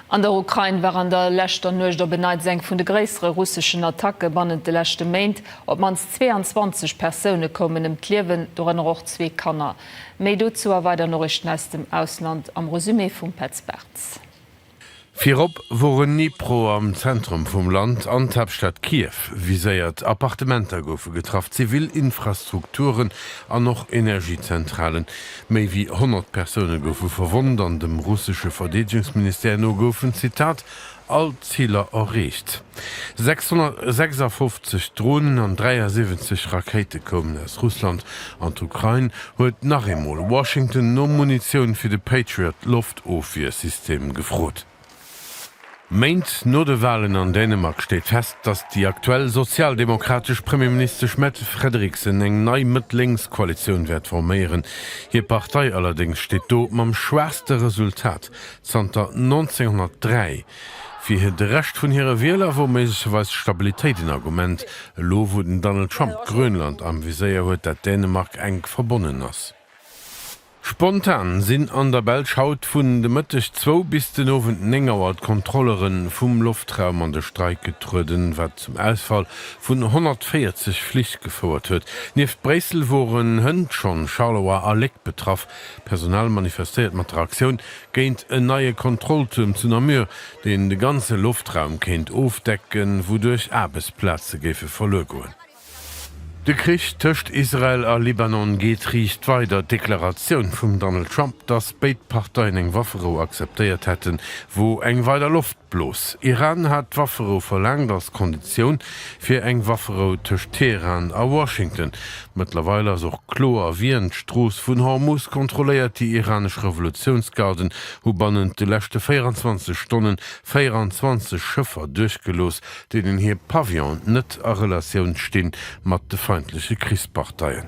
An der Ukrain war an der leschter Nuecht op en Neits eng vun de gréissere russeschen Attacke bannent de leschte Méint. Op d'mannst 22 Persoune koumen ëm d'Liewen, dorënner och zwee Kanner. Méi dozou a weider Noriichten aus dem Ausland am Resumé vum Petz Bartz. Virop woren Dnipro am Zentrum vum Land an d'Haaptstad Kiew viséiert. Appartementer goufe getraff, zivil Infrastrukturen an och Energiezentralen. Méi wéi 100 Persoune goufe verwonnt an dem russesche Verdeedegungsministère no goufen, Zitat, all d'Ziler erreecht. 656 Dronen an 73 Rakéite koumen aus Russland an d'Ukrain huet nach eemol Washington no Munitioun fir de Patriot-Loftofwiersystem gefrot. Méint no de Walen an Dänemark steet fest, datt déi aktuell sozialdemokratesch Premierministesch Mette Frederiksen eng nei Mëtt-Lénks-Koalitioun wäert forméieren. Hir Partei allerdéngs steet do mam schwaachste Resultat zanter 1903. Fir de Rescht vun hire Wieler wor méiglecherweis d'Stabilitéit en Argument, elo wou den Donald Trump Grönland am Viséier huet, dat Dänemark enk verbonnen ass. Spontan sinn an der Belsch haut vun de Mëtteg zwou bis den Owend néng Auer d'Kontrollere vum Loftraum an de Streik getrueden, wat zum Ausfall vun 140 Flich gefouert huet. Nieft Bréissel woren hënt schonn Charleroi a Léck betraff. D'Personal manifestéiert mat der Aktioun géint en neie Kontrolltuerm zu Namur, deen de ganze Loftraum kéint ofdecken, wouduerch Aarbechtsplaze géife verluer goen. De Krich tëscht Israel a Libanon geet riicht weider. D'Deklaratioun vum Donald Trump, datt béid Parteien eng Wafferou akzeptéiert hätten, wor eng weider Loftblos. Iran hat d'Wafferou verlaangt als Konditioun fir eng Wafferou tëscht Teheran a Washington. Mëttlerweil ass och kloer, wien d'Strooss vun Hormuz kontrolléiert, Déi iranesch Revolutiounsgarden hu bannent de leschte 24 Stonnen 24 Schëffer duerchgelooss, deenen hir Pavillon net a Relatioun sti mat de feindleche Krichsparteien.